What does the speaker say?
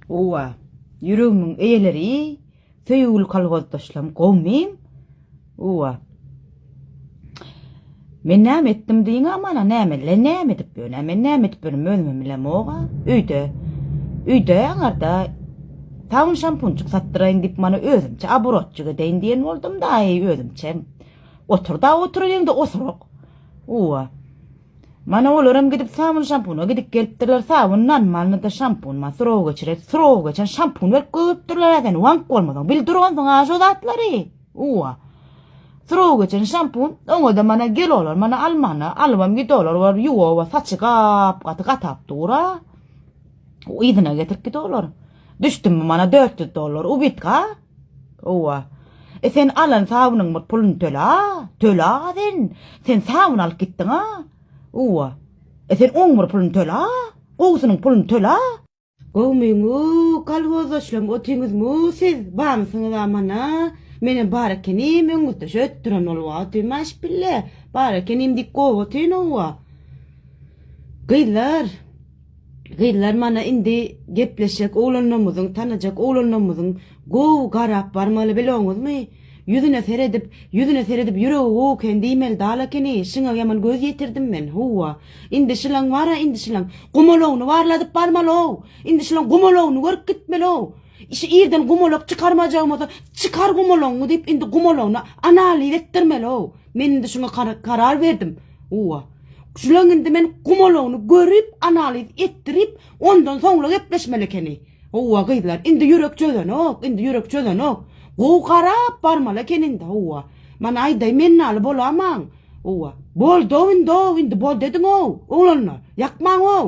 Owa, ýüregimiň eýeleri, söýgüli kolhozdaşlarym, gowmym! Owa. Men näme etdim diýiň amana, näme, le näme edip ýörün, men näme edip ýörün, özümem bilemog-a, öýde, öýde aňarda sabyn şampunçyk satdyraýyn diýip mana özümçe aburatçyk edeýin diýen boldum-da, aý, özümçe. Otur-da, otur öýüňde osuryk. Owa. Mana olaram gidip sabun şampuna gidip gelipdirler sabun nan malnyda şampun ma surov geçiret surov geçen şampun berip gögüpdirler äden wank bolmadan bil duransyň a şo zatlary uwa surov geçen şampun oňada mana gel olar mana almana alybam git olar bar yuwa saçy gap gaty gatap dura yzyna getirip git olar düşdüm mana 400 dollar ubit ga Howwa. E sen alan sabynyň bir pulyny töle-a, töle-a sen. Sen sabyn alyp gitdiň-a. Howwa. E sen oň bir pulyny töle-a, gowusynyň pulyny töle-a. Gowmyň-u, kolhozdaşlam otyňyzm-u siz, bamysyňyz-a mana. Menem bar ekenim, öňňütdeş ötdüren ol wagty, maşpille, bar ekenim diýip gowy otyn, howwa. Gyzlar. Gyzlar mana indi gepleşjek oglanlarymyzyň tanajak oglanlarymyzyň gowy garap barmaly biloňyzmy ýüzüne seredip ýüzüne seredip ýüregi gowy eken diýmeli dal ekeni şyňa ýaman göz ýetirdim men howwa indi şylaň bara indi şylaň gumalogyny barladyp barmaly ow indi şylaň gumalogyny görüp gitmeli ow. Şi irden gumalak çykarmajagymyza çykar gumalagyňy diýip indi gumalagyny analiz etdirmeli-ow. Men indi şuňa karar berdim. Uwa. Şulaň indi men gumalagyny görüp analiz etdirip ondan soňla gepleşmeli ekeni. Uwa gyzlar indi ýürek çözenok indi ýürek çözenok. Gowy garap barmaly eken indi uwa. Mana aýdaý men naly bolamaň. Uwa. Boldow indow indi boldy ediňow oglanlar. Ýakmaň-ow.